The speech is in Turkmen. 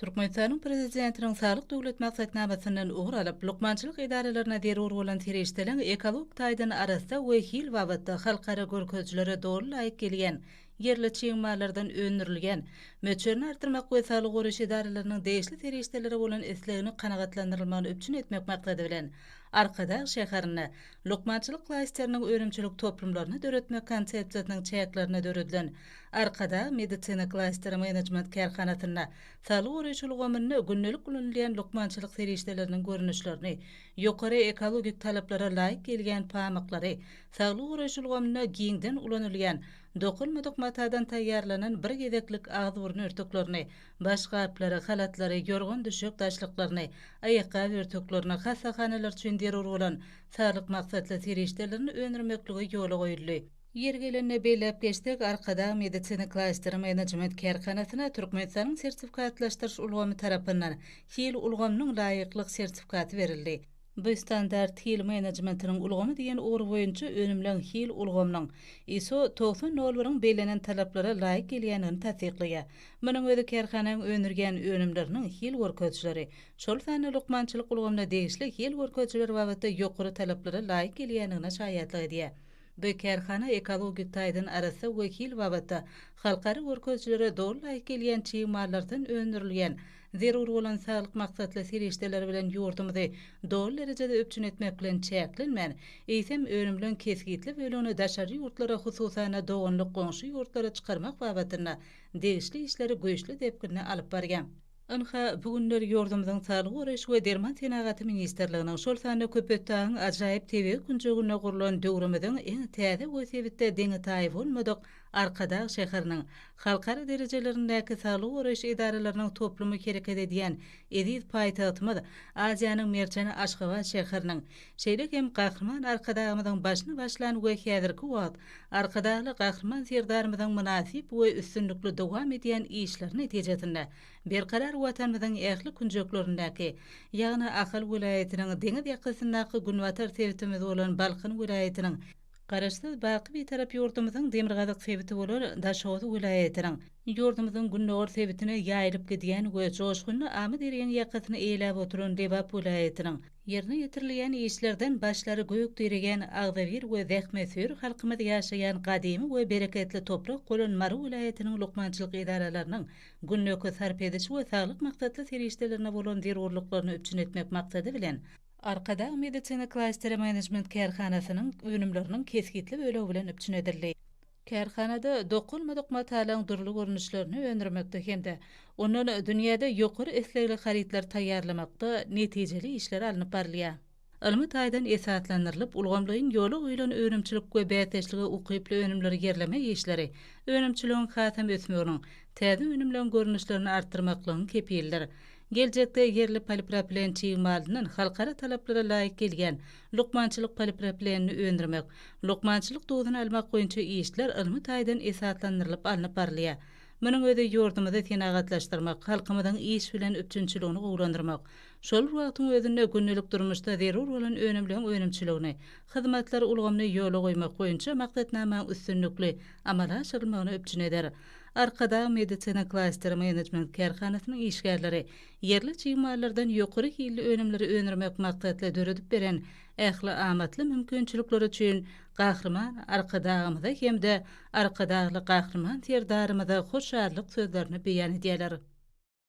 Türkmenistanyň Prezidentiniň Saglyk Döwlet maksatnamasyndan ugur alyp, lukmançylyk edaralaryna zerur bolan serişdeleriň ekologik taýdan arassa we hil babatda halkara görkezijilere doly laýyk gelýän ýerli çig mallardan öndürilýän möçberini artdyrmak we saglygy goraýyş edaralarynyň degişli serişdelere bolan islegini kanagatlandyrylmagyny üpjün etmek maksady bilen, Arkadag şäherinde lukmançylyk klasteriniň önümçilik toplumlaryny döretmek konsepsiýasynyň çäklerinde döredilen Arkadag Medisina Klasteri Menejment Kärhanasynda saglygy goraýyş ulgamynda gündelik ulanylýan lukmançylyk serişdeleriniň görnüşlerini, ýokary ekologik talaplara laýyk gelýän pamyklary, saglygy goraýyş ulgamynda giňden ulanylýan dokulmadyk matadan taýýarlanan bir gezeklik agzybyrun örtüklerini, başgaplary, halatlary, ýorgan-düşek daşlyklaryny, aýakgap örtüklerini, hassahanalar üçin zerur bolan saglyk maksatly serişdelerini öndürmeklige ýola goýuldy. Ýeri gelende belläp geçsek, Arkadag Medisina Klasteri Menejment kärhanasyna Türkmenistanyň sertifikatlaşdyryş ulgamy tarapyndan Hil ulgamynyň laýyklyk sertifikaty berildi. Bu standart Hil menejmentiniň ulgamy diýen ugur boýunça önümleň Hil ulgamynyň ISO togsan nol biriň bellenen talaplara laýyk gelýändigini tassyklaýar. Munuň özi kärhananyň öndürýän önümleriniň hil görkezijileri, şol sanda lukmançylyk ulgamyna degişli hil görkezijileri babatda ýokary talaplara laýyk gelýändigine şaýatlyk edýär. Bu kärhana ekologik taýdan arassa we hil babatda halkara görkezijilere doly laýyk gelýän çig mallardan öndürilýän, zerur bolan saglyk maksatly serişdeler bilen ýurdumyzy doly derejede üpjün etmek bilen çäklenmän, eýsem, önümleň kesgitli bölegini daşary ýurtlara, hususan-da, doganlyk goňşy ýurtlara çykarmak babatynda degişli işleri güýçli depginde alyp barýar. Ynha, bu günler ýurdumyzyň Saglygy goraýyş we derman senagaty ministrliginiň, şol sanda Köpetdagyň ajaýyp tebigy künjeginde gurlan döwrümiziň iň täze we sebitde deňi-taýy bolmadyk Arkadag şäheriniň halkara derejelerindäki saglygy goraýyş edaralarynyň toplumy hereket edýän eziz paýtagtymyz, Aziýanyň merjeni Aşgabat şäheriniň Şeýle hem Gahryman Arkadagymyzyň başyny başlan we häzirki wagt Arkadagly Gahryman Serdarymyzyň mynasyp we üstünlikli dowam edýän işleri netijesinde berkarar Watanymyzyň ähli künjeklerindäki, ýagny Ahal welaýatynyň deňiz ýakasyndaky günbatar sebitimiz bolan Balkan welaýatynyň, Garaşsyz, baky Bitarap ýurdumyzyň demirgazyk sebiti bolan Daşoguz welaýatynyň, ýurdumyzyň gündogar sebitine ýaýylyp gidýän we joşgunly Amyderýaň ýakasyny eýeläp oturan Lebap welaýatynyň, Ýerine ýetirilýän işlerden başlary gök diregen, agzybir we zähmetsöýer halkymyz ýaşaýan gadymy we bereketli toprak bolan Mary welaýatynyň lukmançylyk edaralarynyň günlük sarp ediş we saglyk maksatly serişdelerine bolan zerurlyklaryny üpjün etmek maksady bilen, Arkadag Medisina Klasteri Menejment Kärhanasynyň önümleriniň kesgitli bölegi bilen üpjün edildi. Kärhanada dokalmadyk matalyň dürli görnüşlerini öndürmekde hem-de ondan dünýäde ýokary islegli harytlary taýýarlamakda netijeli işler alnyp barylýar. Ylmy taýdan esaslandyrylyp, ulgamlaýyn ýola goýlan önümçilik we bäsdeşlige ukyply önümleri ýerleme işleri önümçiligiň hasam ösmeginiň, täze önümleň görnüşlerini artdyrmaklygyň kepilidir. Geljekde ýerli polipropilen çig malyndan halkara talaplara laýyk gelýän lukmançylyk polipropilenini öndürmek, lukmançylyk duzuny almak boýunça işler ylmy taýdan esaslandyrylyp alnyp barylýar. Munuň özi ýurdumyzy senagatlaşdyrmak, halkymyzyň iş bilen üpjünçiligini gowulandyrmak, şol bir wagtyň özünde gündelik durmuşda zerur bolan önümleň önümçiligini, hyzmatlar ulgamyny ýola goýmak boýunça maksatnamaň üstünlikli amala aşyrylmagyny üpjün eder. Arkadag Medisina Klaster Management kärhanasynyň işgärleri ýerli çig mallardan ýokary hilli önümleri öndürmek maksatly döredip beren ähli amatly mümkinçilikleri üçin Gahryman Arkadagymyza hem-de Arkadagly Gahryman Serdarymyza hoşallyk sözlerini beýan edýärler.